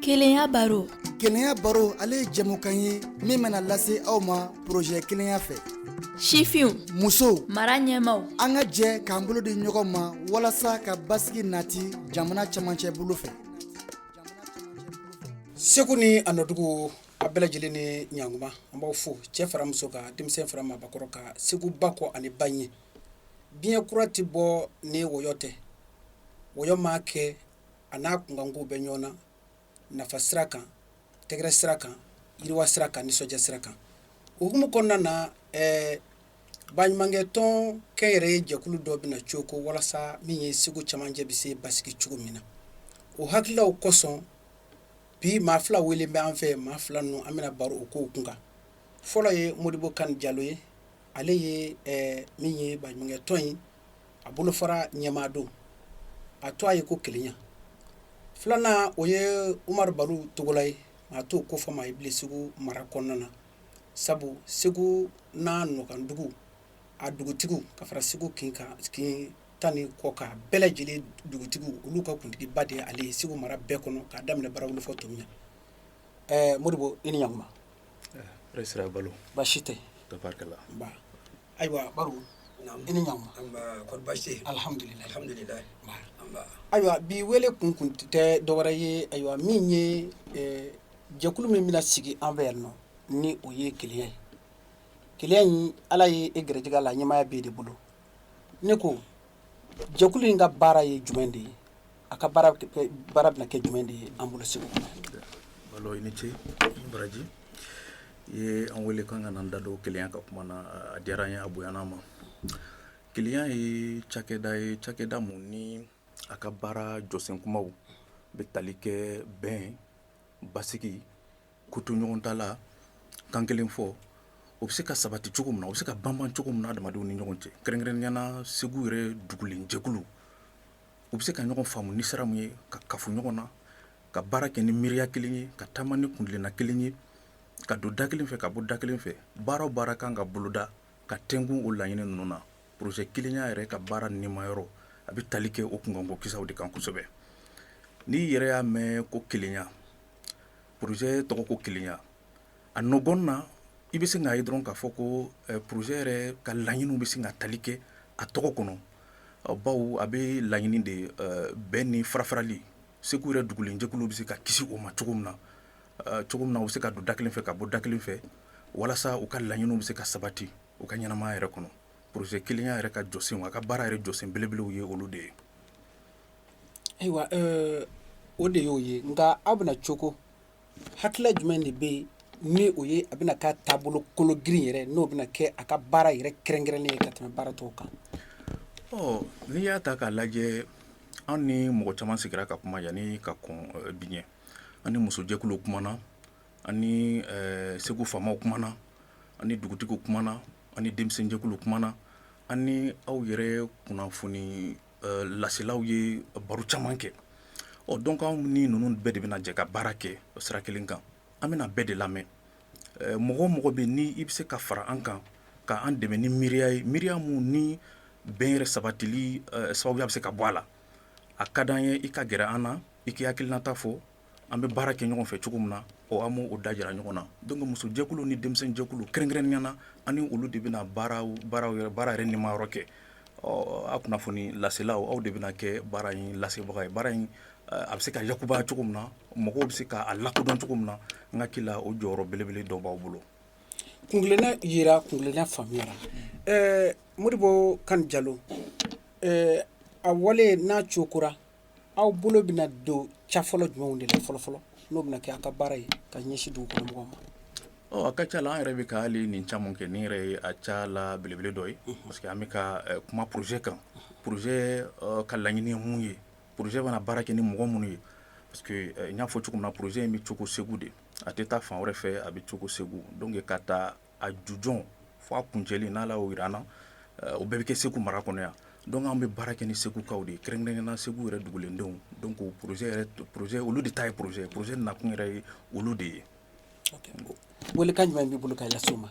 Kelenya baro kelenya baro ale ye jɛmukan ye min bɛna lase aw ma porozɛ kelenya fɛ sifinw musow mara ɲɛmaaw an ka jɛ k'an bolo di ɲɔgɔn ma walasa ka basigi nati jamana cɛmancɛ bolo fɛ segu ni a nɔdugu a bɛɛ lajɛlen ni ɲankuma an b'aw fo cɛ fara muso kan denmisɛn fara maabakɔrɔ kan segu ba kɔ ani ba ɲɛ diɲɛ kura tɛ bɔ ni wɔyɔ tɛ wɔyɔ maa kɛ a n'a kunkankow bɛ ɲɔgɔn na nafa sira kan tɛgɛrɛ sira kan yiriwa sira kan nisɔndiya sira kan o hukumu kɔnɔna na ɛɛ baɲumankɛ tɔn kɛnyɛrɛye jɛkulu dɔ bɛna cooko walasa min ye segu camancɛ bɛ se basigi cogo min na o hakililaw kosɔn bi maa fila wele bɛ an fɛ maa fila ninnu an bɛna baro o kow kun kan fɔlɔ ye modibo kani jalo ye ale ye min ye baɲumankɛ tɔn in a bolofara ɲɛmaa don a tɔgɔ ye ko kelenya filanan o ye umaru baru togola ye maa t'o kofɔ maa ye bilen segu mara kɔnɔna na sabu segu n'a nɔkandugu a dugutigiw ka fara segu kin tan ni kɔ kan bɛɛ lajɛlen dugutigiw olu ka kuntigiba de ye ale ye segu mara bɛɛ kɔnɔ k'a daminɛ barawuli fɔ tominiya modibo i ni ɲa sira balo baasi tɛ tabarikala ayiwa baru i ni ɲankuma alihamudulilayi ayiwa bi wele kun kun tɛ dɔwɛrɛ ye ayiwa min ye jɛkulu min bɛna sigi an fɛ yan nɔ ni o ye kelenya ye kelenya in ala ye e garijɛgɛ la ɲɛmaaya b'e de bolo ne ko jɛkulu in ka baara ye jumɛn de ye a ka baara bɛna kɛ jumɛn de ye an bolo segu i ni ce baraji i ye an wele k'an ka n'an da don kelenya ka kuma na a diyara an ye a bonyan'an ma kelenya ye cakɛda ye cakɛda mun ni a ka baara jɔsen kunbaw bɛ tali kɛ bɛn basigi kotoɲɔgɔntala kan kelen fɔ o bɛ se ka sabati cogo min na o bɛ se ka banban cogo min na adamadenw ni ɲɔgɔn cɛ kɛrɛnkɛrɛnnenya la segu yɛrɛ dugulenjɛkulu u bɛ se ka ɲɔgɔn faamu ni sira min ye ka kafo ɲɔgɔn na ka baara kɛ ni miiriya kelen ye ka taama ni kuntilenna kelen ye ka don da kelen fɛ ka bɔ da kelen fɛ baara o baara kan ka boloda ka tɛnku o laɲini ninnu na porozɛ kelenya yɛrɛ ka baara nimayɔrɔ a bɛ tali kɛ o kunkanko kisaw de kan kosɛbɛ n'i yɛrɛ y'a mɛn ko kelenya Porozɛ tɔgɔ ko kelenya a nɔgɔn na i bɛ se k'a ye dɔrɔn k'a fɔ ko porozɛ yɛrɛ ka laɲiniw bɛ se ka tali kɛ a tɔgɔ kɔnɔ bawo a bɛ laɲini de bɛɛ ni farafarali segu yɛrɛ dugulenjɛkulu bɛ se ka kisi o ma cogo min na cogo min na u bɛ se ka don da kelen fɛ ka bɔ da kelen fɛ walasa u ka laɲiniw bɛ se ka sabati u ka ɲɛnamaya yɛrɛ kɔnɔ porozɛ kelenya yɛrɛ ka jɔsen a ka baara yɛrɛ jɔsen belebelew ye olu de ye Ayiwa o de y'o ye nka aw bɛna cogo hakilila jumɛn de bɛ yen ni o ye a bɛna ka taabolo kologirin yɛrɛ n'o bɛna kɛ a ka baara yɛrɛ kɛrɛnkɛrɛnnen ye ka tɛmɛ baara tɔw kan n'i y'a ta k'a lajɛ anw ni mɔgɔ caman sigira ka kuma yanni ka kɔn bi ɲɛ an ni musojɛkuluw kumana an ni segu faamaw kumana an ni dugutigiw kumana an ni denmisɛnjɛkuluw kumana an ni aw yɛrɛ kunnafoni Laselaw ye baro caman kɛ ɔ donc anw ni ninnu bɛɛ de bɛna jɛ ka baara kɛ sira kelen kan an bɛna bɛɛ de lamɛn mɔgɔ o mɔgɔ bɛ ni i bɛ se ka fara an kan ka an dɛmɛ ni miiriya ye miiriya min ni bɛn yɛrɛ sabatili sababuya bɛ se ka bɔ a la a ka di an ye i ka gɛrɛ an na i k'i hakilinata fɔ An bɛ baara kɛ ɲɔgɔn fɛ cogo min na o an b'o da jira ɲɔgɔn na donc musojɛkuluw ni denmisɛnjɛkuluw kɛrɛnkɛrɛnnenya la an ni olu de bɛna baara yɛrɛ nimayɔrɔ kɛ ɔ a kunnafoni laselaw aw de bɛna kɛ baara in lasebagaw ye baara in a bɛ se ka yakubaya cogo min na mɔgɔw bɛ se k'a lakodɔn cogo min na n hakili la o jɔyɔrɔ belebele dɔ b'aw bolo kunna jira kunna faamuyara ɛɛ Modibo Kani Jalo ɛɛ a wale n'a cooko la aw bolo bɛna don ca fɔlɔ jumɛnw de la fɔlɔ fɔlɔ n'o bɛna kɛ aw ka baara ye ka ɲɛsin dugu kɔnɔ mɔgɔw ma ɔ a ka ca la an yɛrɛ bɛ ka hali nin caman kɛ nin yɛrɛ ye a ca la belebele dɔ ye parce que an bɛ ka eh, kuma projet kan projet eh, ka laɲini ye mun ye projet bɛna baara kɛ ni mɔgɔ minnu ye parce que eh, n y'a fɔ cogo min na projet in bɛ cooko segu de a tɛ taa fan wɛrɛ fɛ a bɛ cooko segu donc k'a ta a jujɔn fo a kuncɛli n'Ala y'o jira an na, o bɛɛ bɛ kɛ Segu mara kɔnɔ yan donc an bɛ baara kɛ ni Segukaw de ye kɛrɛnkɛrɛnnenya la Segu yɛrɛ dugulendenw donc projet yɛrɛ projet olu de ta ye projet ye projet nakun yɛrɛ ye olu de ye, ok, welekan jumɛn b'i bolo ka lase u ma?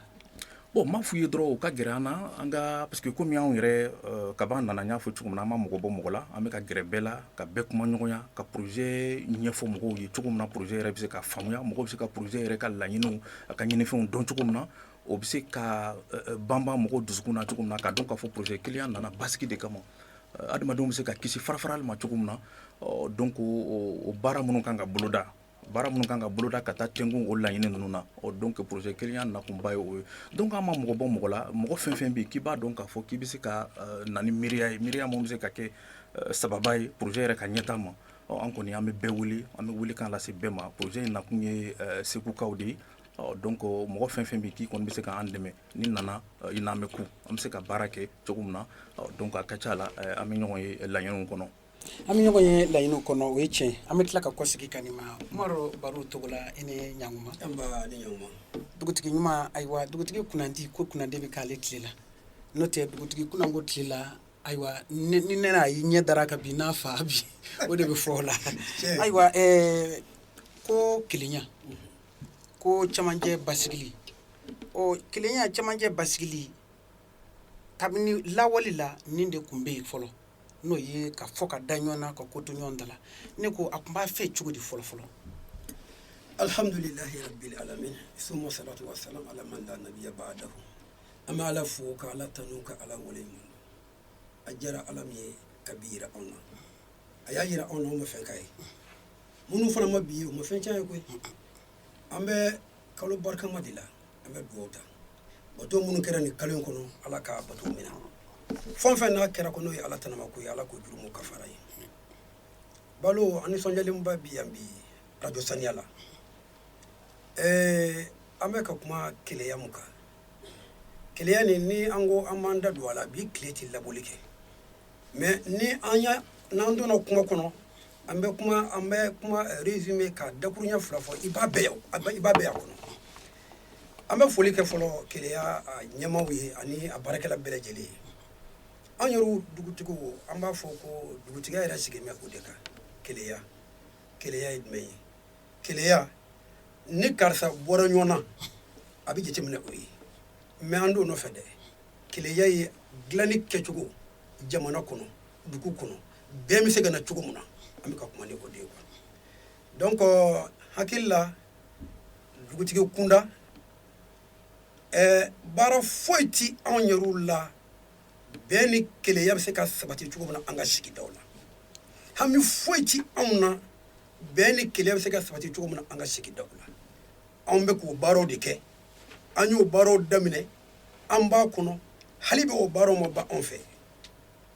bon n b'a f'u ye dɔrɔn u ka gɛrɛ an na an ka parce que komi anw yɛrɛ kab'an nana n y'a fɔ cogo min na an ma mɔgɔ bɔ mɔgɔ la an bɛ ka gɛrɛ bɛɛ la ka bɛɛ kumaɲɔgɔnya ka projet ɲɛfɔ mɔgɔw ye cogo min na projet yɛrɛ bɛ se ka faamuya mɔgɔw bɛ se ka projet yɛrɛ ka laɲiniw a ka ɲinifɛnw dɔn cogo min na o bɛ se ka banban mɔgɔw dusukun na cogo min na k'a dɔn k'a fɔ projet kelenya nana basigi de kama adamadenw bɛ se ka kisi farafarali ma cogo min na donc o baara minnu kan ka boloda baara minnu kan ka boloda ka taa tenku o laɲini ninnu na donc projet kelenya nakunba ye o ye donc an ma mɔgɔ bɔ mɔgɔ la mɔgɔ fɛn fɛn bɛ k'i b'a dɔn k'a fɔ k'i bɛ se ka na ni miiriya ye miiriya min bɛ se ka kɛ sababu ye projet yɛrɛ ka ɲɛtaa ma An kɔni an bɛ bɛɛ wele an bɛ welekan lase bɛɛ ma projet in nakun ye segukaw de ye donc mɔgɔ fɛn fɛn bɛ k'i kɔni bɛ se k'an dɛmɛ n'i nana i n'an bɛ kun an bɛ se ka baara kɛ cogo min na donc a ka ca la an bɛ ɲɔgɔn ye laɲiniw kɔnɔ an bɛ ɲɔgɔn ye laɲiniw kɔnɔ o ye tiɲɛ an bɛ tila ka kɔsegin ka n'i ma Baro Togola i ni ɲma dugutigi ɲuman ayiwa dugutigi kunnandi ko kunnandi bɛ k'ale tile la n'o tɛ dugutigi kunnango tile la ayiwa ni ne a y'i ɲɛ dara ka bin n'a fa bi o de bɛ fɔ o la ayiwa ko kelenya ko camancɛ basigili ɔ kelenya camancɛ basigili kabini lawale la nin de tun bɛ yen fɔlɔ n'o ye ka fɔ ka da ɲɔgɔn na ka ko to ɲɔgɔn ta la ne ko a tun b'a fɛ cogo di fɔlɔ fɔlɔ alihamdulilayi an bɛ ala fo ka ala tanu ka ala waleɲuman a diyara ala min ye ka bi jira anw na a y'a jira anw na anw ma fɛn k'a ye minnu fana ma bi ye u ma fɛn cɛn a ye koyi an bɛ kalo barikama de la an bɛ dugawu ta bato minnu kɛra nin kalo in kɔnɔ ala ka bato minɛ fɛn fɛn n'a kɛra ko n'o ye ala tanama ko ye ala k'o jurumu kafari an ye balo an nisɔndiyalenba bi yan bi arajo saniya la ɛɛ an bɛ ka kuma kelenya min kan kelenya nin ni an ko an b'an da don a la bi tile tɛ laboli kɛ mais ni an y'a n'an donna kuma kɔnɔ an bɛ kuma an bɛ kuma résumer ka dakuruɲɛ fila fɔ i b'a bɛɛ ye a bɛ- i b'a bɛɛ y'a kɔnɔ an bɛ foli kɛ fɔlɔ kelenya a ɲɛmaaw ye ani a baarakɛla bɛɛ lajɛlen ye an yɛrɛw dugutigiw an b'a fɔ ko dugutigiya yɛrɛ sigilen bɛ o de kan kelenya kelenya ye jumɛn ye kelenya ni karisa bɔra ɲɔgɔn na a bɛ jateminɛ o ye mais an t'o nɔfɛ dɛ kelenya ye dilanni kɛcogo jamana kɔnɔ dugu kɔnɔ bɛn bɛ se ka na cogo min na an bɛ ka kuma ni o de ye donc n hakili la dugutigi kunda baara foyi tɛ anw yɛrɛw la bɛn ni kelenya bɛ se ka sabati cogo min na an ka sigidaw la hami foyi tɛ anw na bɛn ni kelenya bɛ se ka sabati cogo min na an ka sigidaw la anw bɛ k'o baaraw de kɛ an y'o baaraw daminɛ an b'a kɔnɔ hali bi o baaraw ma ban anw fɛ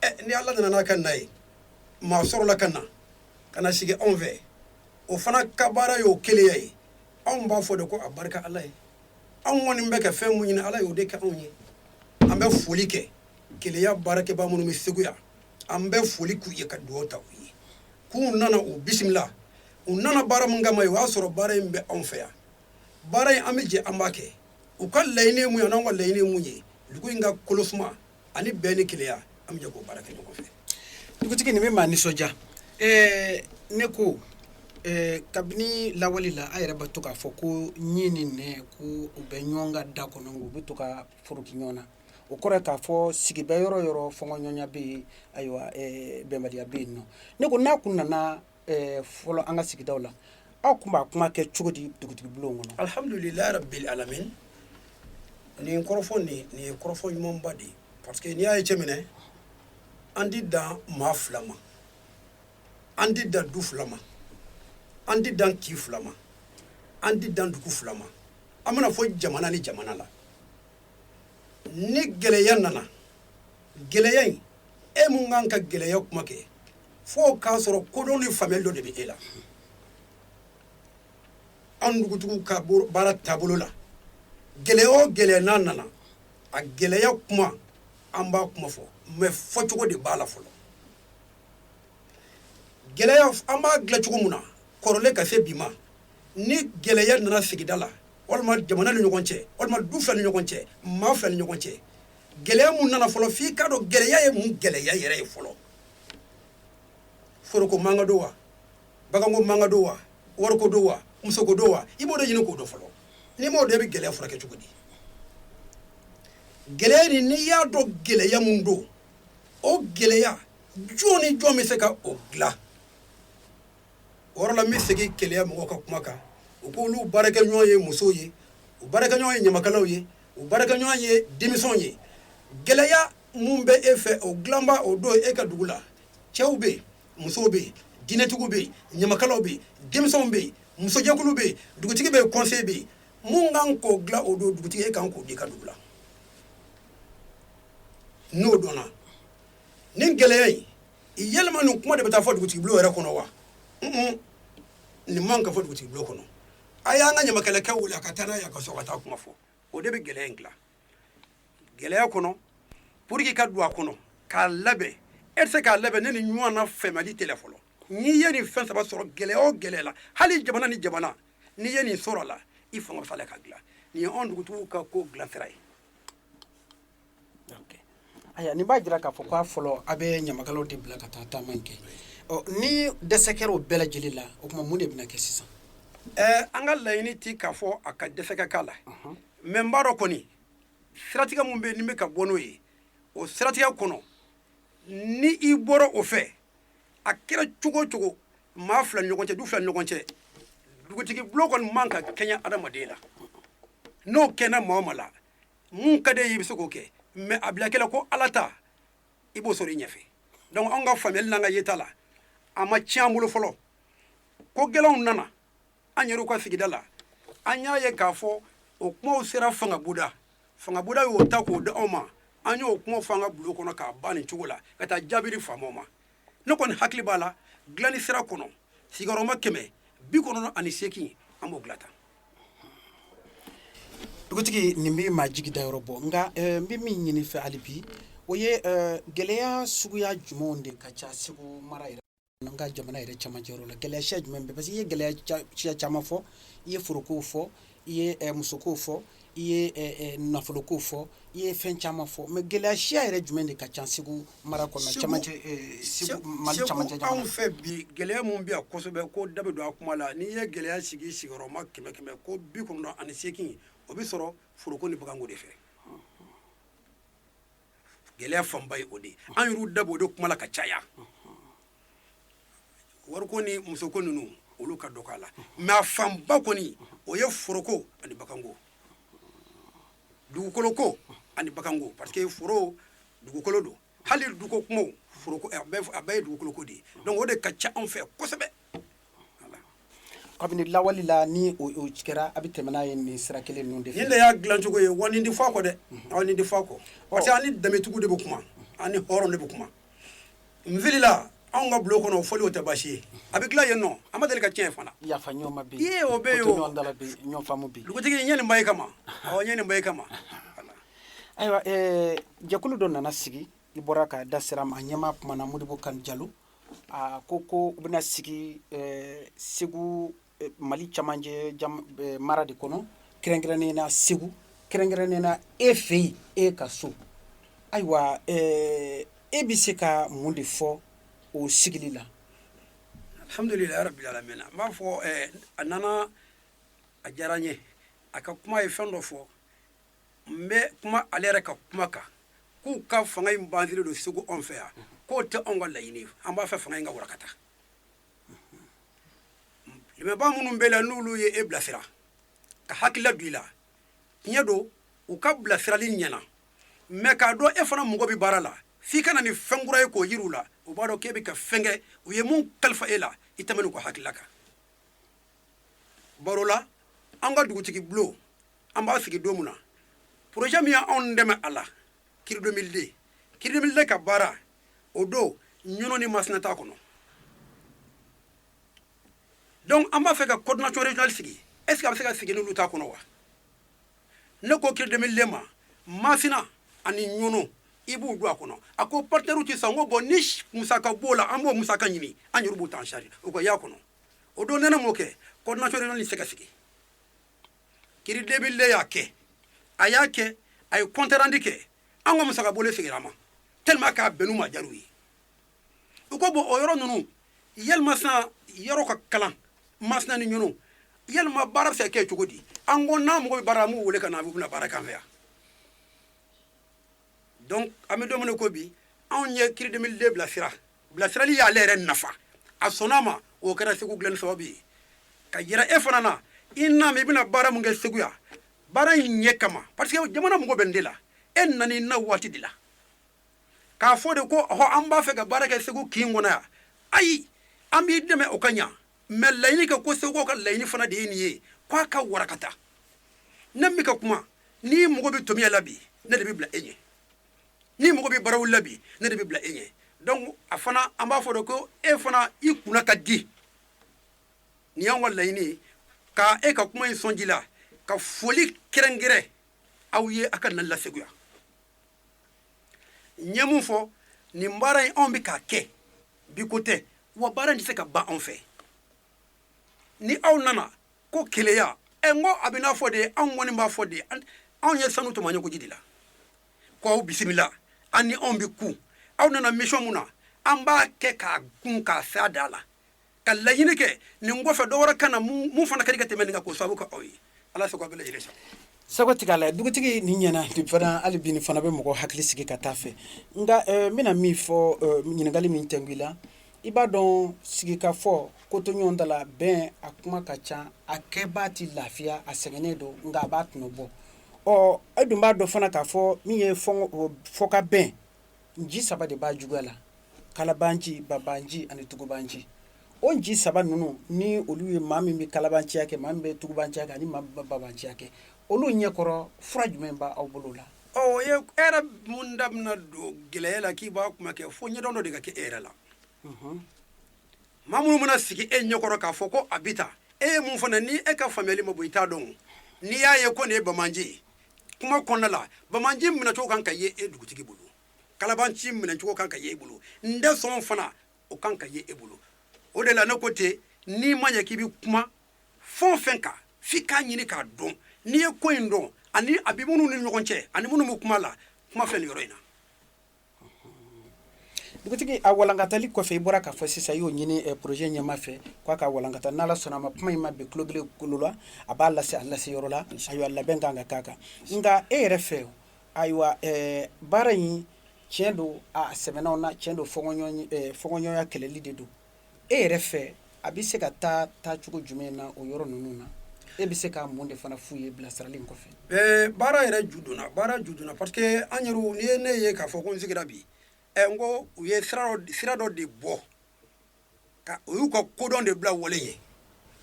ɛ ni ala nana n'a ka na ye maa sɔrɔla ka na ka na sigi anw fɛ o fana ka baara y'o kelenya ye anw b'a fɔ de ko a barika ala ye anw kɔni bɛ ka fɛn min ɲini ala y'o de kɛ anw ye an bɛ foli kɛ kelenya baarakɛbaa minnu bɛ segu yan an bɛ foli k'u ye ka dugawu ta u ye k'u nana u bisimila u nana baara min kama ye o y'a sɔrɔ baara in bɛ anw fɛ yan baara in an bɛ jɛ an b'a kɛ u ka laɲini min ye ani anw ka laɲini min ye dugu in ka kolo suma ani bɛn ni kelenya an bɛ jɛ k'o baara kɛ ɲɔgɔn fɛ dugutigi nin bɛ maa nisɔndiya ɛɛ ne ko ɛɛ kabini lawale la a yɛrɛ bɛ to k'a fɔ ko ɲin ni nɛn ko u bɛ ɲɔgɔn kan da kɔnɔ u bɛ to ka foroki ɲɔgɔn na o kɔrɔ k'a fɔ sigi bɛ yɔrɔ yɔrɔ fɔɲɔgɔnya bɛ yen ayiwa bɛnbaliya bɛ yen nɔ ne ko n'a kun nana fɔlɔ an ka sigidaw la aw kun b'a kuma kɛ cogo di dugutigi bulon kɔnɔ alihamdulilayi rabil alamin nin kɔrɔfɔ nin ye kɔrɔfɔ ɲumanba de ye parce que n'i y'a ye cɛ minɛ an ti dan maa fila ma an ti dan du fila ma an ti dan kin fila ma an ti dan dugu fila ma an bɛna fɔ jamana ni jamana la ni gɛlɛya nana gɛlɛya in e mun kan ka gɛlɛya kuma kɛ fo k'a sɔrɔ kodɔn ni faamuyali dɔ de bɛ e la an dugutigiw ka baara taabolo la gɛlɛya o gɛlɛya n'a nana a gɛlɛya kuma an b'a kuma fɔ mais fɔcogo de b'a la fɔlɔ gɛlɛya an b'a dilan cogo min na kɔrɔlen ka se bi ma ni gɛlɛya nana sigida la walima jamana ni ɲɔgɔn cɛ walima du fila ni ɲɔgɔn cɛ maa fila ni ɲɔgɔn cɛ gɛlɛya mun nana fɔlɔ f'i k'a dɔn gɛlɛya ye mun gɛlɛya yɛrɛ ye fɔlɔ foroko mankan don wa baganko mankan don wa wariko don wa musoko don wa i b'o de ɲini k'o dɔn fɔlɔ n'i m'o dɔn i bɛ gɛlɛya furakɛ cogo di gɛlɛya nin n'i y'a dɔn gɛlɛya mun don o gɛlɛya jɔn ni jɔn bɛ se ka o dilan yɔrɔ la n bɛ segin keleya mɔgɔw ka kuma kan u ko olu baarakɛɲɔgɔn ye musow ye u baarakɛɲɔgɔn ye ɲamakalaw ye u baarakɛɲɔgɔn ye denmisɛnw ye gɛlɛya mun bɛ e fɛ o dilanba o dɔn e ka dugu la cɛw bɛ yen musow bɛ yen diinɛtigiw bɛ yen ɲamakalaw bɛ yen denmisɛnw bɛ yen musojɛkulu bɛ yen dugutigi bɛ yen kɔnseye bɛ yen mun kan k'o dilan o dɔn dugutigi e kan k'o dɔn i ka dugu la n'o dɔnna nin gɛlɛya in yɛlɛma nin kuma de bɛ taa fɔ dugutigi bulon yɛrɛ kɔnɔ wa nin man ka fɔ dugutigi bulon kɔnɔ a y'an ka ɲamakalakɛ wuli a ka taa n'a ye a ka so ka taa kuma fɔ o de bɛ gɛlɛya in dilan gɛlɛya kɔnɔ pour que i ka don a kɔnɔ k'a labɛn e tɛ se k'a labɛn ni nin ɲɔgɔnna faamuyali t'i la fɔlɔ n'i ye nin fɛn saba sɔrɔ gɛlɛya o gɛlɛya la hali jamana ni jamana n'i ye nin sɔrɔ a la i fanga bɛ s'a la k'a dilan nin ye anw dugutigiw ka ko dilansira ye Ayiwa nin b'a jira k'a fɔ k'a fɔlɔ a bɛ ɲamakalaw de bila ka taa taama kɛ ni dɛsɛ kɛra o bɛɛ lajɛlen la o tuma mun de bɛna kɛ sisan an ka laɲini tɛ k'a fɔ a ka dɛsɛ ka k'a la mais n b'a dɔn kɔni siratigɛ mun bɛ yen n'i bɛ ka bɔ n'o ye o siratigɛ kɔnɔ ni i bɔra o fɛ a kɛra cogo o cogo maa fila ni ɲɔgɔn cɛ du fila ni ɲɔgɔn cɛ dugutigi bulon kɔni man ka kɛɲɛ adamaden la n'o kɛɲɛna mɔgɔ ma la min ka d'e ye i bɛ se k'o kɛ mais a bila i hakili la ko Ala ta i b'o sɔrɔ i ɲɛfɛ donc anw ka faamuyali n'an ka yeta la a ma tiɲɛ an bolo fɔlɔ ko gɛlɛnw nana an yɛrɛw ka sigida la an y'a ye k'a fɔ o kumaw sera fangabuda fangabuda y'o ta k'o di anw ma an y'o kumaw fɔ an ka bulon kɔnɔ k'a ban nin cogo la ka taa jaabi di faamaw ma ne kɔni hakili b'a la dilanni sira kɔnɔ sigiyɔrɔma kɛmɛ bi kɔnɔntɔn ani seegin an b'o dilan tan dugutigi nin bɛ maa jigi da yɔrɔ bɔ nka eh, n bɛ min ɲini i fɛ hali bi o ye eh, gɛlɛya suguya jumɛnw de ka ca segu mara yɛrɛ an ka jamana yɛrɛ camancɛ yɔrɔ la gɛlɛya siya jumɛn bɛ parce que i ye gɛlɛya ca- siya caman fɔ i ye forokow fɔ i ye musokow fɔ i ye nafolokow fɔ i ye fɛn caman fɔ mais gɛlɛya siya yɛrɛ jumɛn de ka ca segu mara kɔnɔ mali camancɛ anw fɛ bi gɛlɛya min bɛ yan kosɛbɛ ko da bɛ don a kuma la n'i ye gɛlɛya sigi sigiyɔrɔma kɛmɛ kɛmɛ ko bi kɔnɔntɔn ani seegin o bɛ sɔrɔ foroko ni baganko de fɛ gɛlɛya fanba ye o de ye an yɛrɛw da b'o de kuma la ka caya wariko ni musoko ninnu olu ka dɔgɔ a la mais a fanba kɔni o ye foroko ani baganko dugukoloko ani baganko parce que foro dugukolo don hali duguko kumaw foroko a bɛɛ ye dugukoloko de ye donc o de ka ca anw fɛ kosɛbɛ kabini lawale la ni o kɛra a bɛ tɛmɛ n'a ye nin sira kelen ninnu de fɛ nin de y'a dilancogo ye wa nin tɛ fɔ a kɔ dɛ aw nin tɛ fɔ a kɔ parce que an ni danbetigiw de bɛ kuma an ni hɔrɔn de bɛ kuma n filila anw ka bulon kɔnɔ o fɔli o tɛ baasi ye a bɛ dilan yen nɔ an ma deli ka cɛn fana yafa ɲɔgɔn ma bi yen o bɛ yen ɲɔgɔn faamu bi dugutigi n ye nin ba ye kama aw n ye nin ba ye kama ayiwa jɛkulu dɔ nana sigi i bɔra ka da sira ma a ɲɛmaa kumana modibo kani jalo a ko ko u bɛna sigi segu mali camancɛ mara de kɔnɔ kɛrɛnkɛrɛnnen na segu kɛrɛnkɛrɛnnen na e fɛ yen e ka so ayiwa e bɛ se ka mun de fɔ o sigili la alhamdulilayi rabil alamina n b'a fɔ a nana a diyara n ye a ka kuma ye fɛn dɔ fɔ n bɛ kuma ale yɛrɛ ka kuma kan k'u ka fanga in bansilen don segu anw fɛ yan k'o tɛ anw ka laɲini ye an b'a fɛ fanga in ka warakata limɛba minnu b'a la n'olu ye e bilasira ka hakilila don i la tiɲɛ don u ka bilasirali ɲɛna mais k'a dɔn e fana mɔgɔ bɛ baara la f'i ka na ni fɛn kura ye k'o yiri u la u b'a dɔn k'e bɛ ka fɛn kɛ u ye min kalifa e la i tɛmɛn n'u ka hakilila kan baro la an ka dugutigi bulon an b'a sigi don min na projet min y'anw dɛmɛ a la cri 2002 ka baara o don ɲɔnɔ ni masina t'a kɔnɔ donc an b'a fɛ ka coordination régionale sigi est ce que a bɛ se ka sigi n'olu t'a kɔnɔ wa ne ko cri 2002 ma masina ani ɲɔnɔ i b'u don a kɔnɔ a ko partenaires tɛ sɔn n ko bon ni musaka b'o la an b'o musaka ɲini an yɛrɛ b'u ta en charge u ka y'a kɔnɔ o don ni ne m'o kɛ coordination régionale in tɛ se ka sigi cri 2002 y'a kɛ a y'a kɛ a ye compte rendu kɛ an ka musaka bɔlen segira a ma tellement k'a bɛnn'u ma jar'u ye u ko bon o yɔrɔ ninnu yalima sisan yɔrɔ ka kalan masina ni ɲɔnɔ yalima baara bɛ se ka kɛ cogo di an ko n'an mago bɛ baara la an b'u wele ka na u bɛna baara k'an fɛ yan donc an bɛ don min na ko bi anw ye cri 2002 bilasira bilasirali y'ale yɛrɛ nafa a sɔnna a ma o kɛra segu dilanni sababu ye ka yira e fana na i n'a mɛn i bɛna baara mun kɛ segu yan baara in ɲɛ kama parce que jamana mago bɛ n de la e nana i na waati de la k'a fɔ de ko ɔhɔ an b'a fɛ ka baara kɛ segu kin kɔnɔ yan ayi an b'i dɛmɛ o ka ɲa mais laɲini kɛ ko segukaw ka laɲini fana de ye nin ye k'a ka warakata ne min ka kuma n'i mago bɛ tomiɲa la bi ne de bɛ bila e ɲɛ n'i mago bɛ barawuli la bi ne de bɛ bila e ɲɛ donc a fana an b'a fɔ de ko e fana i kunna ka di nin y'anw ka laɲini ye ka e ka kuma in sɔn ji la ka foli kɛrɛnkɛrɛn aw ye a ka nali la segu yan n ye mun fɔ nin baara in anw bɛ k'a kɛ bi ko tɛ wa baara in tɛ se ka ban anw fɛ ni aw nana ko keleya ɛ n ko a bɛ n'a fɔ de anw kɔni b'a fɔ de anw ye sanu tɔmɔ ɲɔkoji de la ko aw bisimila an ni aw bɛ ku aw nana mission mun na an b'a kɛ k'a kun k'a se a da la ka laɲini kɛ nin kɔfɛ dɔ wɛrɛ ka na mun fana ka di ka tɛmɛ nin kan k'o sababu kɛ aw ye ala sago bɛɛ lajɛlen sa sago tigɛ la dugutigi nin ɲɛna nin fana hali bi nin fana bɛ mɔgɔ hakili sigi ka taa fɛ nka eh, n bɛna min fɔ eh, ɲininkali min tɛngu i la i b'a dɔn sigikafɔ kotoɲɔgɔntala bɛn a kuma ka ca a kɛbaa ti lafiya a sɛgɛnnen don nka a b'a tɔnɔ bɔ e dun b'a dɔn fana k'a fɔ min ye fɔkabɛn nci saba de b'a juguya la kalabanci babanci ani tugubanci o nci saba ninnu ni olu ye maa min bɛ kalabanya kɛ maa min bɛ tugubanciya kɛ ani maa min bɛ babanciya kɛ olu ɲɛkɔrɔ fura jumɛn b'aw bolo la o ye e yɛrɛ mun da bɛna don gɛlɛya la k'i b'a kuma kɛ fo ɲɛdɔn dɔ de ka kɛ e yɛrɛ la maa minnu mana sigi e ɲɛkɔrɔ k'a fɔ ko a bɛ taa e ye mun fana ni e ka faamuyali ma bɔ i t'a dɔn n'i y'a ye ko nin ye babanci ye kuma kɔnɔna la bamanci minɛcogo kan ka ye e dugutigi bolo kalabanci minɛcogo kan ka ye e bolo n tɛ sɔn fana o kan ka ye e bolo o de la ne ko ten n'i ma ɲɛ k'i bɛ kuma fɛn o fɛn kan f'i k'a ɲini k'a dɔn n'i ye ko in dɔn ani a bɛ minnu ni ɲɔgɔn cɛ ani minnu bɛ kuma la kuma filɛ nin yɔrɔ in na Dugutigi a walankatali kɔfɛ i bɔra k'a fɔ sisan i y'o ɲini projet ɲɛmaa fɛ k'a ka walankata n'ala sɔnna a ma kuma in ma bin tulogeren tulo la a b'a lase a lase yɔrɔ la ayiwa labɛn ka kan ka k'a kan nka e yɛrɛ fɛ ayiwa baara in tiɲɛ don a sɛmɛ n'a wo na cɛn don fɔkɔɲɔgɔnya kɛlɛli de don e yɛrɛ fɛ a bɛ se ka taa taacogo jumɛn na o yɔrɔ ninnu na e bɛ se ka mun de fana f'u ye bilasirali in kɔfɛ ɛɛ baara yɛrɛ ju donna baara ju donna parce que an yɛrɛ u ye ne ye k'a fɔ ko n sigira bi ɛ n ko u ye sira dɔ de bɔ u y'u ka kodɔn de bila wale ye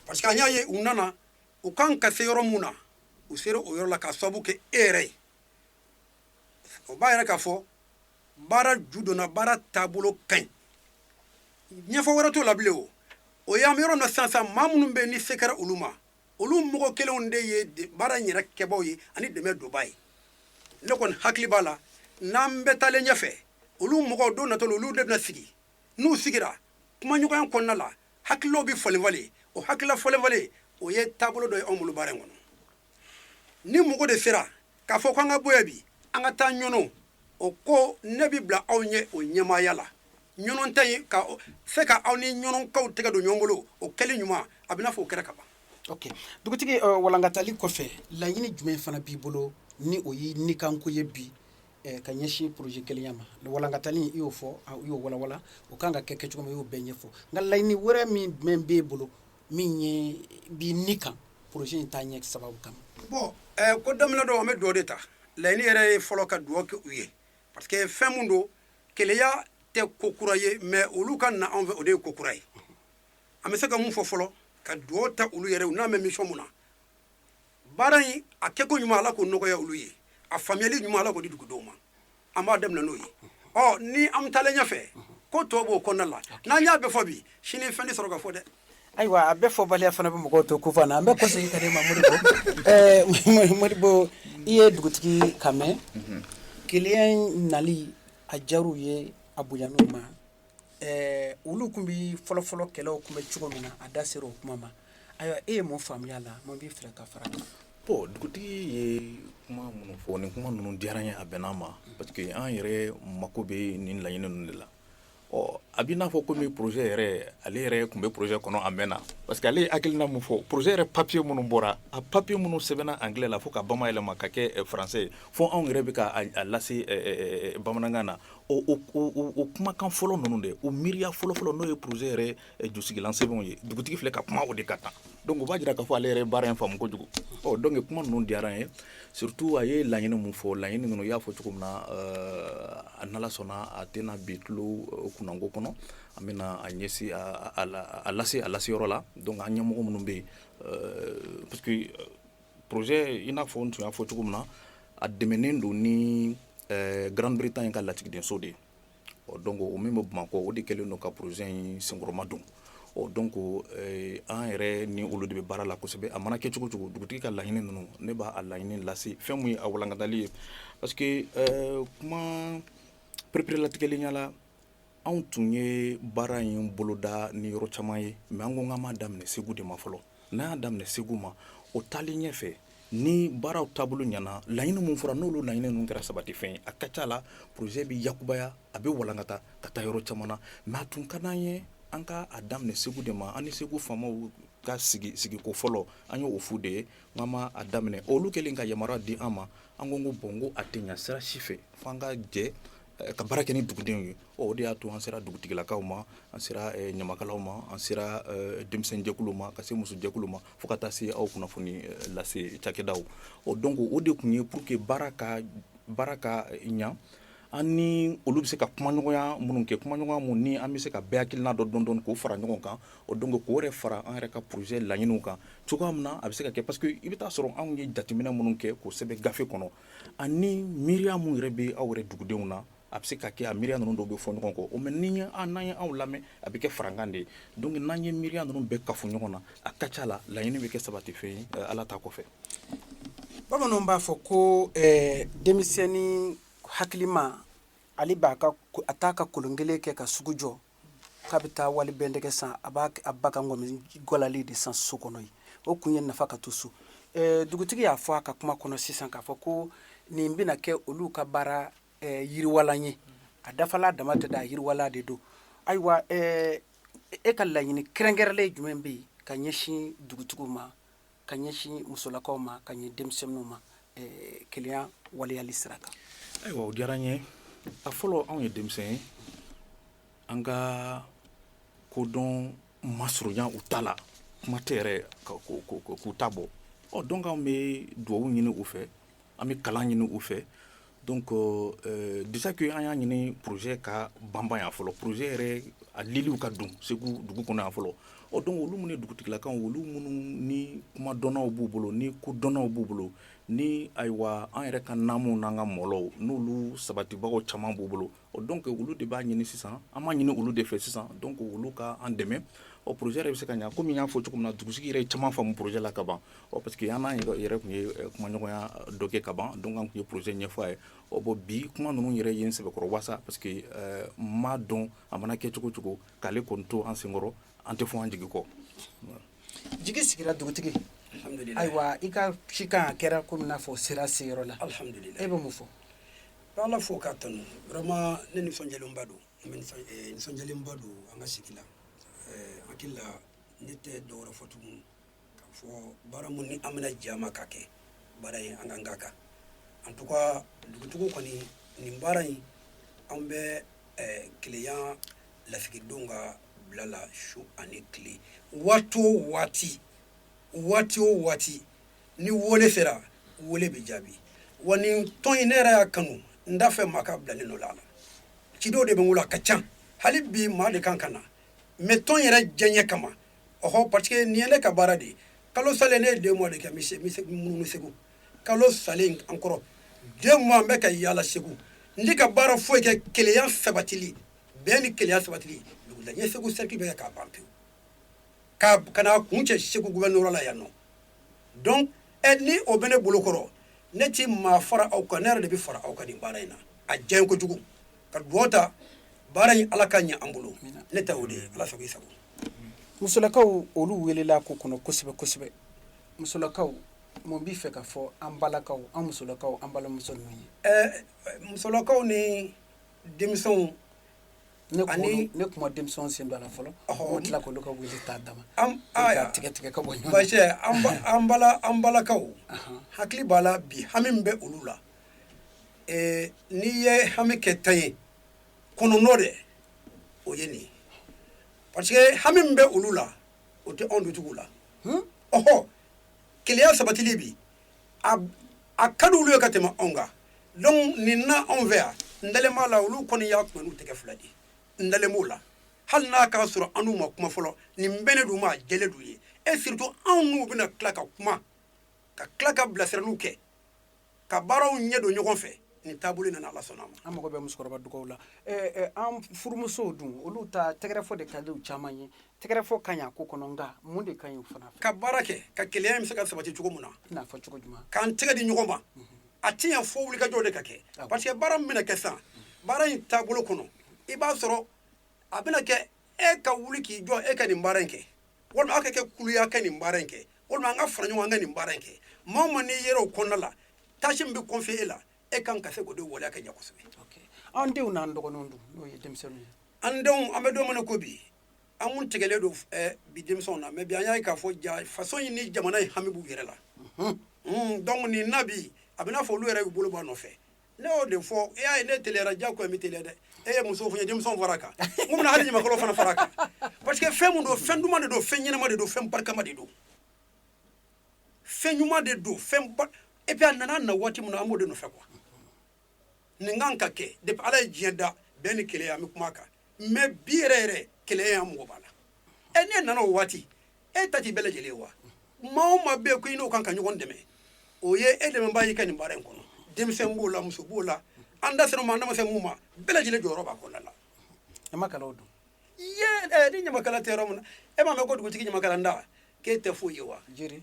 parce que an y'a ye u nana u kan ka se yɔrɔ min na u sera o yɔrɔ la ka sababu kɛ e yɛrɛ ye o b'a yira k'a fɔ baara ju donna baara taabolo ka ɲi ɲɛfɔ wɛrɛ t'o la bilen o o ye an bɛ yɔrɔ min na sisan sisan maa minnu bɛ yen ni se kɛra olu ma olu mɔgɔ kelenw de ye de- baara in yɛrɛ kɛbaaw ye ani dɛmɛdonbaaw ye ne kɔni hakili b'a la n'an bɛ taalen ɲɛfɛ olu mɔgɔw don natɔ la olu de bɛna sigi n'u sigira kumaɲɔgɔnya kɔnɔna la hakililaw bɛ falenfalen o hakilila falenfalen o ye taabolo dɔ ye anw bolo baara in kɔnɔ ni mɔgɔ de sera k'a fɔ ko an ka bɔ yan bi an ka taa ɲɔnɔ o ko ne bɛ bila aw ɲɛ o ɲɛmaaya la ɲɔnɔ ta in ka se ka aw ni ɲɔnɔkaw tɛgɛ don ɲɔgɔn bolo o kɛli ɲuman a bɛ n'a fɔ o kɛra ka ban ok dugutigi uh, walankatali kɔfɛ laɲini jumɛn fana b'i bolo ni o ye nikanko ye bi eh, ka ɲɛsin projet kelenya ma walankatali i y'o fɔ i y'o walawala o kan ka kɛ kɛcogo min i y'o bɛɛ ɲɛfɔ nka laɲini wɛrɛ min jumɛn b'e bolo min ye b'i ni kan projet in taaɲɛ sababu kama bon ko daminɛ don an bɛ dugawu de ta laɲini yɛrɛ ye fɔlɔ ka dugawu kɛ u ye parce que fɛn min don kelenya tɛ ko kura ye mais olu ka na anw fɛ o de ye ko kura ye an bɛ se ka mun fɔ fɔlɔ ka dugawu ta olu yɛrɛ u nalen bɛ mission min na baara in a kɛko ɲuman ala k'o nɔgɔya olu ye a faamuyali ɲuman ala k'o di dugudenw ma an b'a daminɛ n'o ye ɔ ni an taalen ɲɛfɛ ko tɔ b'o kɔnɔna la n'an y'a bɛɛ fɔ bi sini fɛn tɛ sɔrɔ ka fɔ dɛ ayiwa a bɛɛ fɔbaliya fana bɛ mɔgɔw to kunpan na an bɛ kɔsegin ka n'i ma modibo modibo i ye dugutigi kan mɛn mhm. kelenya nali a diyar'u ye a bonyan'u ma Ɛɛ olu tun bɛ fɔlɔfɔlɔ kɛlɛ tun bɛ cogo min na a da sera o kuma ma ayiwa e ye mun faamuya la mun b'i fɛ ka fara a kan bon dugutigi ye kuma minnu fɔ nin kuma ninnu diyara n ye a bɛnna ma parce que an yɛrɛ mako bɛ nin laɲini ninnu de la ɔ a b'i n'a fɔ ko projet yɛrɛ ale yɛrɛ tun bɛ projet kɔnɔ a mɛnna parce que ale ye hakilina min fɔ projet yɛrɛ papiye minnu bɔra a papiye minnu sɛbɛnna anglais la fo ka bamayɛlɛma ka kɛ faransɛ ye fo anw yɛrɛ bɛ k'a lase bamanankan na o kumakan fɔlɔ ninnu de o miiriya fɔlɔfɔlɔ n'o ye projet yɛrɛ jusigilan sɛbɛnw ye dugutigi filɛ ka kuma o de ka kan donc o b'a jira k'a fɔ ale yɛrɛ ye baara in faamu kojugu ɔ donc kuma ninnu diyara n ye surtout a ye laɲini min fɔ laɲini ninnu i y'a fɔ cogo min na a n'ala sɔnna a tɛna bin tulo kunnanko kɔnɔ an bɛna a ɲɛsin a lase a lase yɔrɔ la donc an ɲɛmɔgɔ minnu bɛ yen Projet i n'a fɔ n tun y'a fɔ cogo min na a dɛmɛnen don ni Grande-Bretagne ka lasigidenso de ye ɔ donc o min bɛ bamakɔ o de kɛlen don ka projet in senkɔrɔmadon o donc an yɛrɛ ni olu de bɛ baara la kosɛbɛ a mana kɛ cogo cogo dugutigi ka laɲini ninnu ne b'a laɲini lase fɛn min ye a walankatali ye parce que kuma pereperelatigɛlenya Anw tun ye baara in boloda ni yɔrɔ caman ye mais an ko k'an b'a daminɛ segu de ma fɔlɔ n'an y'a daminɛ segu ma o taalen ɲɛ fɛ ni baaraw taabolo ɲɛna laɲini min fɔra n'olu laɲini ninnu kɛra sabatifɛn ye a ka ca la projet bɛ yakubaya a bɛ walankata ka taa yɔrɔ caman na mais a tun ka d'an ye an ka a daminɛ segu de ma an ni segu faamaw ka sigi sigiko fɔlɔ an y'o f'u de ye k'an b'a daminɛ olu kɛlen ka yamaruya di an ma an ko bon n ko a tɛ ɲa sira si fɛ fo an ka jɛ Ka baara kɛ ni dugudenw ye o de y'a to an sera dugutigilakaw ma an sera ɲamakalaw ma an sera denmisɛnninjɛkulu ma ka se musojɛkulu ma fo ka taa se aw kunnafoni lase cakɛdaw donc o de tun ye pour que baara ka ɲɛ an ni olu bɛ se ka kumaɲɔgɔnya minnu kɛ kumaɲɔgɔnya minnu ni an bɛ se ka bɛɛ hakilina dɔ dɔn k'o fara ɲɔgɔn kan o donc k'o yɛrɛ fara an yɛrɛ ka projet laɲiniw kan cogoya min na a bɛ se ka kɛ parce que i bɛ taa sɔrɔ anw ye jateminɛ minnu kɛ k'o sɛbɛn gafe kɔnɔ Ani miiriya minnu yɛrɛ bɛ aw yɛrɛ dugudenw na a bɛ se ka kɛ a miiriya ninnu dɔw bɛ fɔ ɲɔgɔn kɔ o mais ni ye an n'an ye aw lamɛn a bɛ kɛ farankan de ye donc n'an ye miiriya ninnu bɛɛ kafo ɲɔgɔn na a ka ca la laɲini bɛ kɛ sabatifɛn ye eh, ala ta kɔfɛ bamananw b'a fɔ ko eh, denmisɛnnin hakilima ale b'a ka a t'a ka kolon kelen kɛ ka sugu jɔ k'a bɛ taa wali bɛndɛgɛ san a b'a a ba ka ŋɔmi gɔlalen de san so kɔnɔ yen o kun ye nafa ka to so eh, dugutigi y'a fɔ a ka kuma kɔnɔ sisan k'a fɔ ko nin bɛna kɛ olu ka baara eh, yiriwalan ye a dafalan dama tɛ dɛ a yiriwalan de don ayiwa eh, e ka laɲini kɛrɛnkɛrɛnlen jumɛn bɛ yen ka ɲɛsin dugutigiw ma ka ɲɛsin musolakaw ma ka ɲɛ denmisɛnninw ma keleya waleyali sira kan ayiwa o diyara n ye a fɔlɔ anw ye denmisɛn ye an ka kodɔn ma surunya u ta la kuma tɛ yɛrɛ k'u ta bɔ ɔ donc an bɛ dugawu ɲini u fɛ an bɛ kalan ɲini u fɛ Donc déjà que an y'a ɲini projet ka banban yan fɔlɔ projet yɛrɛ a liliw ka don segu dugu kɔnɔ yan fɔlɔ donc olu minnu dugutigilakaw olu minnu ni kuma dɔnnaw b'u bolo ni ko dɔnnaw b'u bolo ni ayiwa an yɛrɛ ka naamuw n'an ka mɔlɔw n'olu sabatibagaw caman b'u bolo Donc olu de b'a ɲini sisan an b'a ɲini olu de fɛ sisan donc olu ka an dɛmɛ projet yɛrɛ bɛ se ka ɲɛ kɔmi n y'a fɔ cogo min na dugutigi yɛrɛ ye caman faamu projet la ka ban o parce que an n'a yɛrɛ tun ye kumaɲɔgɔnya dɔ kɛ ka ban donc an tun ye projet ɲɛfɔ a ye bon bi kuma ninnu yɛrɛ ye n sɛbɛkɔrɔ wasa parce que n b'a dɔn a mana kɛ cogo cogo k'ale kɔni to an senkɔrɔ an tɛ fɔ an jigi kɔ jigi sigira dugutigi ayiwa i ka cikan a kɛra kɔmi n'a fɔ sera seyɔrɔ la e bɛ mun fɔ Ka Ala fo k'a tanu vraiment ne nisɔndiyalenba don n bɛ nisɔn ee nisɔndiyalenba don an ka sigi la ɛɛ hakili la ne tɛ dɔwɛrɛ fɔ tugun ka fɔ baara min ni an bɛna jɛ a ma k'a kɛ baara in an k'an k'a kan en tout cas dugutigi kɔni nin baara in an bɛ ɛɛ keleya lasigidenw ka bila la su ani tile waati o waati waati o waati ni wole sera wole bɛ jaabi wa nin tɔn in ne yɛrɛ y'a kanu n t'a fɛ maa ka bila ne nɔ la cidenw de bɛ n bolo a ka ca hali bi maa de kan ka na mais tɔn yɛrɛ diyaɲɛ kama ɔhɔ parce que nin ye ne ka baara de ye kalo salen ne ye deux mois de kɛ n bɛ munumunu segu kalo salen an kɔrɔ deux mois n bɛ ka yaala segu n tɛ ka baara foyi kɛ keleya sabatili bɛn ni keleya sabatili dugula n ye segu cercle bɛɛ kɛ k'a ban pewu ka ka na kuncɛ segu gouvernorat la yan nɔ donc ni o bɛ ne bolokɔrɔ ne tɛ maa fara aw kan ne yɛrɛ de bɛ fara aw kan nin baara in na a diya kojugu ka dugawu ta baara in ala ka ɲɛ an bolo ne ta o de ye ala sago i sago musolakaw olu welela ko kɔnɔ kosɛbɛ kosɛbɛ musolakaw mun b'i fɛ ka fɔ an balakaw an musolakaw an balimamuso ninnu ye ɛɛ musolakaw ni denmisɛnw ne ani ne kuma denmisɛn sen don a la fɔlɔ o tila k'olu ka wele t'a dama tigɛ tigɛ ka bɔ an an balakaw hakili b'a la bi hami min bɛ olu la n'i ye hami kɛ tan ye kɔnɔntɔn de o ye nin ye parce que hami min bɛ olu la o tɛ anw dutigiw la ɔɔ keleya sabatili bi a ka di olu ye ka tɛmɛ anw kan donc nin na anw fɛ yan n dalen b'a la olu kɔni y'a kuma n'u tɛgɛ fila de n dalen b'o la hali n'a k'a sɔrɔ an n'u ma kuma fɔlɔ nin bɛnnen d'u ma a jɛlen d'u ye et surtout anw n'u bɛna tila ka kuma ka tila ka bilasiraliw kɛ ka baaraw ɲɛ don ɲɔgɔn fɛ nin taabolo nana ala sɔnna a ma an mago bɛ musokɔrɔba dugawu la an furumusow dun olu ta tɛgɛrɛfɔ de ka di u caman ye tɛgɛrɛfɔ ka ɲi a ko kɔnɔ nka mun de ka ɲi u fana fɛ ka baara kɛ ka keleya in bɛ se ka sabati cogo min na i n'a fɔ cogo jumɛn k'an tɛgɛ di ɲɔgɔn ma a tɛ ɲɛ fo wulikajɔ de ka kɛ ah parce que baara min bɛna kɛ sisan baara in taabolo kɔnɔ i b'a sɔrɔ a bɛna kɛ e ka wuli k'i jɔ e ka nin baara in kɛ walima aw ka kɛ kulu ye ka nin baara in kɛ walima an ka fara ɲɔgɔn kan ka nin baara in kɛ maa o maa n'i yɛrɛ o kɔnɔna la tâche min bɛ confier e la e kan ka se k'o de waleya ka ɲɛ kosɛbɛ an denw n'an dɔgɔninw dun n'o ye denmisɛnninw ye an denw an bɛ don min na ko bi an kun tigɛlen don eh, bi denmisɛnw na mais bi an y'a ye k'a fɔ ja faso in ni jamana in hami b'u yɛrɛ la Mm, donc nin na bi a bɛna fɔ olu yɛrɛ y'u bolo bɔ a nɔfɛ ne y'o de fɔ e y'a ye ne teliyara diyagoya n bɛ teliya dɛ e ye musow fɔ n ye denmisɛnw fara a kan n kun bɛna hali ɲamakalaw fana fara a kan parce que fɛn mun don fɛn duman de don fɛn ɲɛnama de don fɛn barikama de don fɛn ɲuman de don fɛn ba et puis a nana na waati min na an b'o de nɔfɛ quoi nin kan ka kɛ depuis Ala ye diɲɛ da bɛn ni keleya an bɛ kuma a kan mais bi yɛrɛ yɛrɛ keleya an mago b'a la ɛ nin nana o waati e ta t'i bɛɛ lajɛlen ye wa maa o maa bɛ yen ko i n'o kan ka ɲɔgɔn dɛmɛ o ye e dɛmɛbaa y'i ka nin baara in kɔnɔ denmisɛn b'o la muso b'o la an da sera ma an da ma se mun ma bɛɛ lajɛlen jɔyɔrɔ b'a kɔnɔna la ɲamakalaw dun eh, ni ɲamakala tɛ yɔrɔ min na e m'a mɛn ko dugutigi ɲamakalantan k'e tɛ foyi ye wa jiri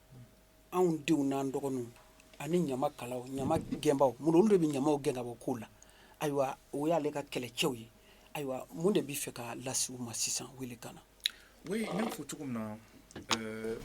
anw denw n'an dɔgɔninw ani ɲamakalaw ɲama gɛnbaaw mun olu de bɛ ɲamaw gɛn ka bɔ kow la ayiwa o y'ale ka kɛlɛcɛw ye ayiwa mun de b'i fɛ ka lase u ma sisan wele kan na oui n y'a fɔ cogo min na euh,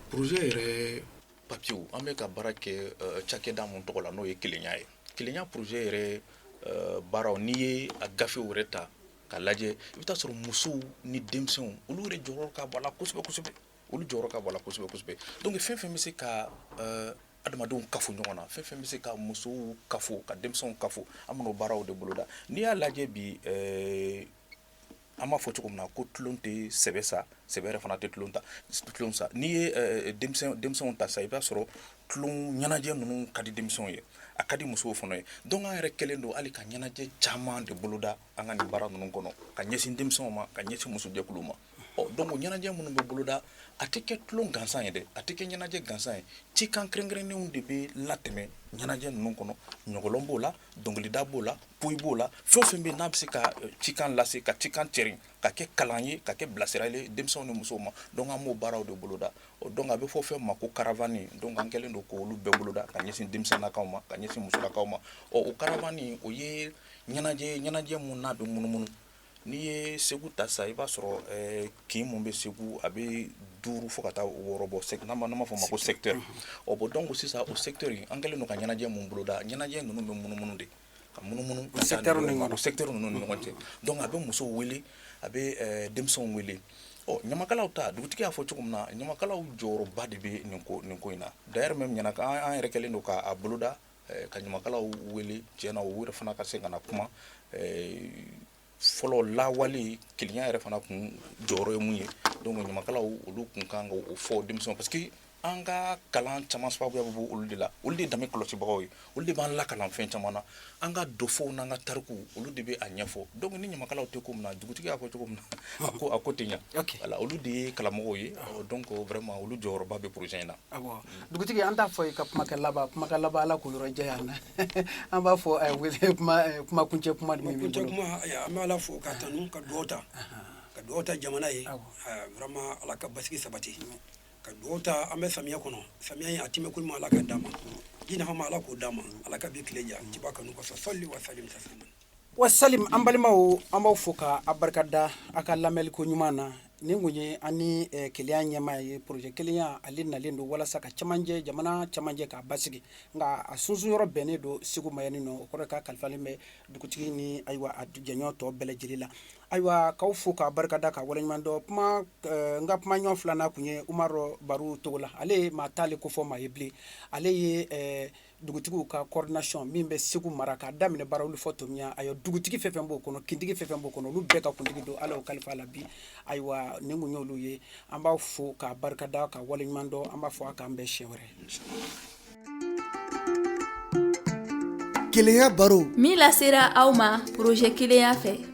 projet yɛrɛ papiyew an bɛ ka baara kɛ euh, cakɛda mun tɔgɔ la n'o ye kelenya ye kelenya projet yɛrɛ euh, baaraw n'i ye a gafew yɛrɛ ta ka lajɛ i bɛ taa sɔrɔ musow ni denmisɛnw olu yɛrɛ jɔyɔrɔ ka bon a la kosɛbɛ kosɛbɛ olu jɔyɔrɔ ka bon a la kosɛbɛ kosɛbɛ donc fɛn fɛn bɛ se ka eh, adamadenw kafo ɲɔgɔn na fɛn fɛn bɛ se ka musow kafo ka denmisɛnw kafo an bɛn'o baaraw de boloda n'i y'a lajɛ bi eh, an b'a fɔ cogo min na ko tulon tɛ sɛbɛ sa sɛbɛ yɛrɛ fana tɛ tulon ta tulon sa n'i ye eh, denmisɛnw ta sa i b'a sɔrɔ tulon ɲɛnajɛ ninnu ka di denmisɛnw ye a ka di musow fana ye donc an yɛrɛ kɛlen don hali ka ɲɛnajɛ caman de boloda an ka nin baara ninnu kɔnɔ ka ɲɛsin denmisɛnw ma ka ɲɛsin musojɛkuluw ma ɔ donc ɲɛnajɛ minnu bɛ boloda a tɛ kɛ tulon gansan ye dɛ a tɛ kɛ ɲɛnajɛ gansan ye cikan kɛrɛnkɛrɛnnenw de bɛ latɛmɛ ɲɛnajɛ ninnu kɔnɔ ɲɔgɔlɔn b'o la dɔnkilida b'o la poyi b'o la fɛn o fɛn bɛ yen n'a bɛ se ka eh, cikan lase ka cikan cɛrin ka kɛ kalan ye ka kɛ bilasirali ye denmisɛnw ni musow ma donc an b'o baaraw de boloda ɔ donc a bɛ fɔ fɛn ma ko caravane donc an kɛlen don k'olu bɛɛ boloda ka ɲɛsin denmisɛnnakaw ma ka ɲɛsin musolakaw ma ɔ o caravane o ye ɲɛnajɛ ye ɲɛnajɛ min n'a bɛ munumunu N'i ye segu ta sa i b'a sɔrɔ kin minnu bɛ segu a bɛ duuru fo ka taa wɔɔrɔ bɔ n'an b'a fɔ o ma ko secteur bon donc sisan o secteur in an kɛlen don ka ɲɛnajɛ minnu boloda ɲɛnajɛ ninnu bɛ munumunu de ka munumunu o secteur ninnu ni ɲɔgɔn cɛ donc a bɛ musow weele a bɛ denmisɛnw weele ɔ ɲamakalaw ta dugutigi y'a fɔ cogo min na ɲamakalaw jɔyɔrɔba de bɛ nin ko in na d'ailleurs même ɲɛna' an yɛrɛ kɛlen don k'a boloda Ka ɲamakalaw wele tiɲɛ na o yɛrɛ fana ka se ka na kuma fɔlɔ lawale kelen yɛrɛ fana tun jɔyɔrɔ ye minnu ye donc ɲamakalaw olu tun kan ka o fɔ denmisɛnw parce que an ka kalan caman sababu bɛ bɔ olu de la olu de danbe kɔlɔsibagaw ye olu de b'an lakalan fɛn caman na an ka dɔfɔw n'an ka tariku olu de bɛ a ɲɛfɔ donc ni ɲamakala tɛ ko min na dugutigi y'a fɔ cogo min na ko a ko tɛ ɲɛ olu de ye karamɔgɔw ye donc vraiment olu jɔyɔrɔba bɛ projet in na Dugutigi an t'a fɔ i ka kumakɛ laban kumakɛ laban ala k'o yɔrɔ janya an na an b'a fɔ kuma kuncɛ kuma an bɛ ala fo k'a tanu ka dugawu ta ka dugawu ta jamana ye vraiment ala ka basigi sabati ka dugawu ta an bɛ samiya kɔnɔ samiya in a tɛmɛko ɲuman ala ka d'an ma ji nafama ala k'o d'an ma ala ka bi tile ja ciba kanu kɔsɔn sali wa sa Wa salim an balimaw an b'aw fo ka a barika da a ka lamɛnni ko ɲuman na nin kun ye an ni kelenya ɲɛmaa ye projet kelenya ale nalen don walasa ka camancɛ jamana camancɛ k'a basigi nka a sunsun yɔrɔ bɛnnen don segu ma yan nin o kɔrɔ ka kalifalen bɛ dugutigi ni ayiwa a jɛɲɔgɔn tɔ bɛɛ lajɛlen la ayiwa k'aw fo k'a barika da ka waleɲuman dɔn kuma n ka kumaɲɔgɔn filanan tun ye umaru baro togola ale ye maa t'ale kofɔ maa ye bilen ale ye dugutigiw ka coordination min bɛ segu mara k'a daminɛ barawuli fo tomiɲan ayiwa dugutigi fɛn fɛn b'o kɔnɔ kintigi fɛn fɛn b'o kɔnɔ olu bɛɛ ka kuntigi don ala y'o kalifa a la bi ayiwa nin kun y'olu ye an b'a fo k'a barikada ka waleɲuman dɔn an b'a fɔ a k'an bɛn siɲɛ wɛrɛ kelenya baro min lasera aw ma projet kelenya fɛ